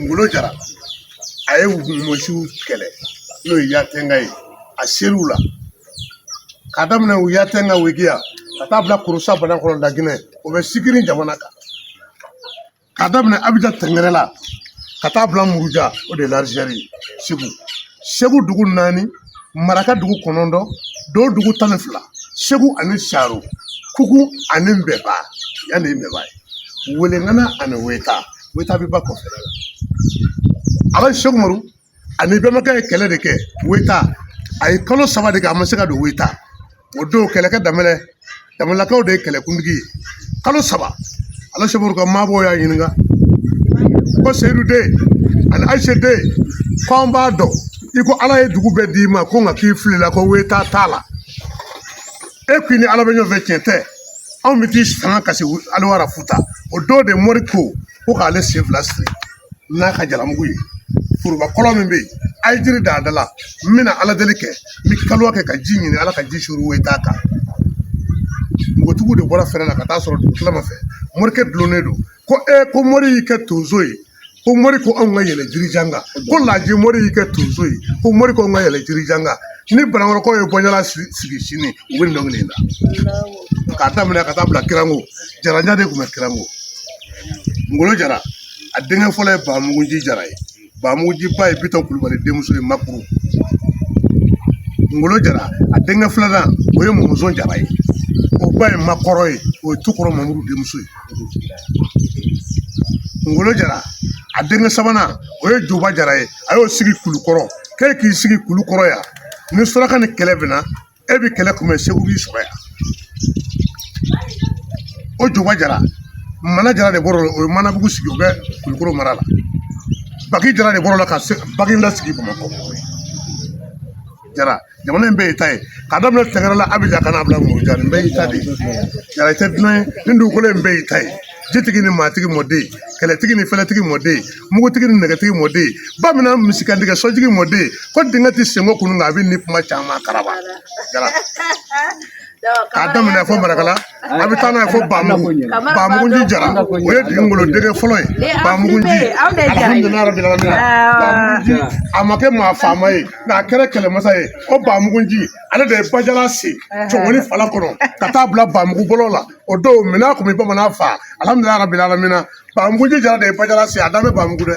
ngolo jara a ye mɔsiw kɛlɛ n'o ye yatenga ye a ser'u la k'a daminɛ u yatenga wegiya ka taa bila kurusa banakɔrɔ laginɛ o bɛ sigiri jamana kan k'a daminɛ abijan tɛngɛrɛla ka taa bila muruja o de ye larizɛri ye segu segu dugu naani maraka dugu kɔnɔntɔn do dugu tan ni fila segu ani saro kuku ani mbɛba yanni mbɛba ye Welengana ani weta weta bɛ ba kɔfɛ ala seku umaru ani bɛnbakɛ ye kɛlɛ de kɛ weta a ye kalo saba de kɛ a ma se ka don weta o don kɛlɛkɛ damelakaw de ye kɛlɛkuntigi ye kalo saba ala seku umaru ka maabɔ y'a ɲininka ko seyidu den ani ayise den ko an b'a dɔn i ko ala ye dugu bɛɛ d'i ma ko nka k'i filila ko weta t'a la e k'i ni ala bɛ ɲɔgɔn fɛ tiɲɛ tɛ anw bɛ t'i sanga kasi aliwara futa o don de mori ko ko k'ale sen fila siri n'a ka jalamugu ye foroba kɔlɔn min bɛ yen a ye jiri d'a da la n bɛna ala deli kɛ n bɛ kaliwa kɛ ka ji ɲini ala ka ji suru weta kan npogotigiw de bɔra fɛrɛ la ka taa sɔrɔ dugutilama fɛ morikɛ dulonnen don ko ee ko mori y'i kɛ tonso ye ko mori ko anw ka yɛlɛ jirijan kan ko laji mori y'i kɛ tonso ye ko mori ko anw ka yɛlɛ jirijan kan ni banankɔrɔkaw ye bɔnjalan sigi sini u bɛ dɔnkili in da k'a daminɛ ka taa bila kirango jarajan de tun bɛ kirango ngolo jara a denkɛ fɔlɔ ye bamuguji jara ye bamuguji ba ye bitɔn kulubali denmuso ye makuru ngolo jara a denkɛ filanan o ye mɔnzɔn jara ye o ba ye makɔrɔ ye o ye tukɔrɔ mamuru denmuso ye Ngolo Jara a denkɛ sabanan o ye Juba Jara ye a y'o sigi Kulukɔrɔ k'e k'i sigi Kulukɔrɔ yan ni suraka ni kɛlɛ bɛna e bɛ kɛlɛ kunbɛn Segu b'i sɔrɔ yan o Juba Jara Mana Jara de bɔr'o la o ye Manabugu sigi o bɛ Kulukɔrɔ mara la Baki Jara de bɔr'o la ka Baginda sigi Bamakɔ. jara jamana in bɛɛ y'i ta ye k'a daminɛ tɛngɛrɛla abijan ka n'a bila muruja nin bɛɛ y'i ta de ye jara i tɛ dunan ye nin dugukolo in bɛɛ y'i ta ye jitigi ni maatigi mɔden kɛlɛtigi ni fɛlɛtigi mɔden mugutigi ni nɛgɛtigi mɔden bamanan misikantigɛ sɔjigi mɔden ko dingɛ tɛ senko kunun nka a bɛ ni kuma caman karaba jara k'a daminɛ fo marakala a bɛ taa n'a ye fo bamugu bamuguji jara o ye ngolo denkɛ fɔlɔ ye bamuguji alihamudulila arabi alamina bamuguji a ma kɛ maa faama ye nka a kɛra kɛlɛmasa ye o bamuguji ale de ye bajala sen cɔngɔni fala kɔnɔ ka taa bila bamugu bolo la o don minnɔgɔ bɛ bamanan faa alihamudulila arabi alamina bamuguji jara de ye bajala sen a dan bɛ bamugu dɛ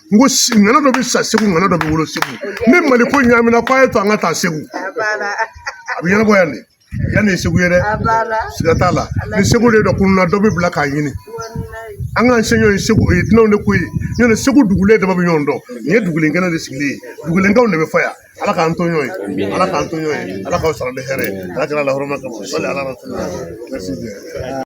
n ko ŋana dɔ bɛ sa segu ŋana dɔ bɛ wolo segu ni mali ko ɲaamina k'a y'a to an ka taa segu a bɛ ɲɛnabɔ yan de yan de ye segu ye dɛ siga t'a la ni segu den dɔ tununna dɔ bɛ bila k'a ɲini an k'an se ɲɔgɔn ye segu o ye dunanw de ko ye nɔntɛ segu dugulen dama bɛ ɲɔgɔn dɔn nin ye dugulen kɛnɛ de sigilen ye dugulenkaw de bɛ fɔ yan ala k'an to ɲɔgɔn ye ala k'an to ɲɔgɔn ye ala k'aw sara ni hɛrɛ ye ala kira lahɔrɔma kama sali ala